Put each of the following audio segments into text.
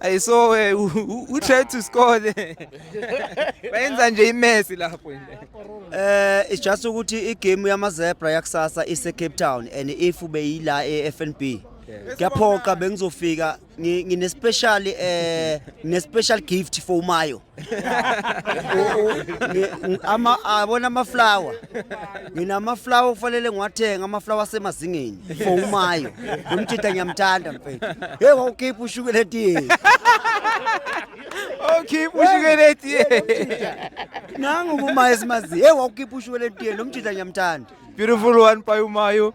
I saw uh, who, who, who tried to score there. Bayenza nje imesi lapho nje. Eh it's just ukuthi igame yama zebra yakusasa ise Cape Town and if ubeyila eFNB kuyaphoqa bengizofika ngi- ngine special eh ngine special gift for umayo U- u- ngi- ngi- ama- abona amaflawa nginamaflawa okufanele ngiwathenga amaflawa asemazingeni for umayo nomjita ngiyamthanda mfethu hey wawukhipha ushukela etiyeni okhipha ushukela etiyeni nangu umayo esimaziyo hey wawukhipha ushukela etiyeni nomjita ngiyamthanda beautiful one payumayo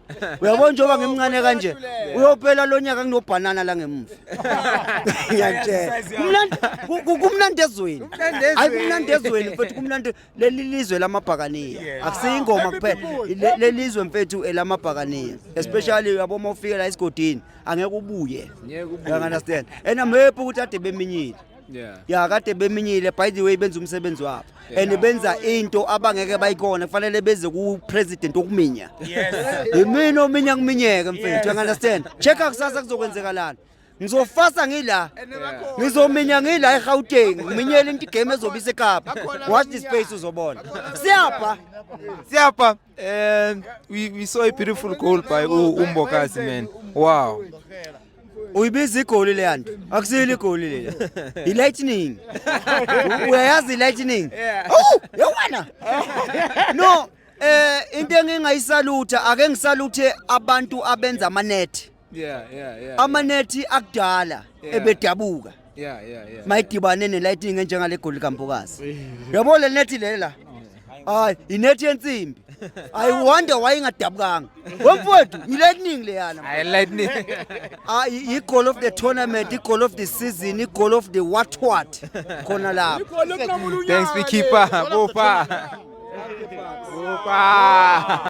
uyabona njengoba ngimncane kanje uyophela lo nyaka kunobhanana la ngemuva ngiyakutshela Kumnandi- ku- ku- kumnandi ezweni hayi kumnandi ezweni mfethu kumnandi leli lizwe lamabhakaniya akusiyo ingoma kuphela Le- leli lizwe mfethu elamabhakaniya especially uyabo uma ufike la esigodini angeke ubuye you understand and i'm happy ukuthi ade beminyile Yeah. ya kade beminyile by the way benza umsebenzi wabo and benza into abangeke bayikona kufanele beze ku-president wokuminya yimina ominya kuminyeke mfethu you understand check-a kusasa kuzokwenzekalani ngizofasa ngila ngizominya ngila egauteng ngiminyele into igame ezobe isekapa watch this space uzobona siyapha Siyapha. And we, we saw a beautiful goal by U- Umbokazi, man. Wow. uyibiza igoli leya nto akusiyile igoli leya yi-lightning uyayazi i-lightning owu yewena no um into engingayisalutha ake ngisaluthe abantu abenza amanethi yeah yeah yeah amanethi akudala Yeah. ebedabuka yeah yeah yeah mayidibane nelightning enjengale goli kampokazi yabo le nethi lela hayi inethi yensimbi i wonder why ingadabukanga wemfowethu yilightning leyana I like me. Ah, i- i-goal of the tournament i-goal of the season i-goal of the what what khona lapho Thanks, Beekeeper. Go far. Go far.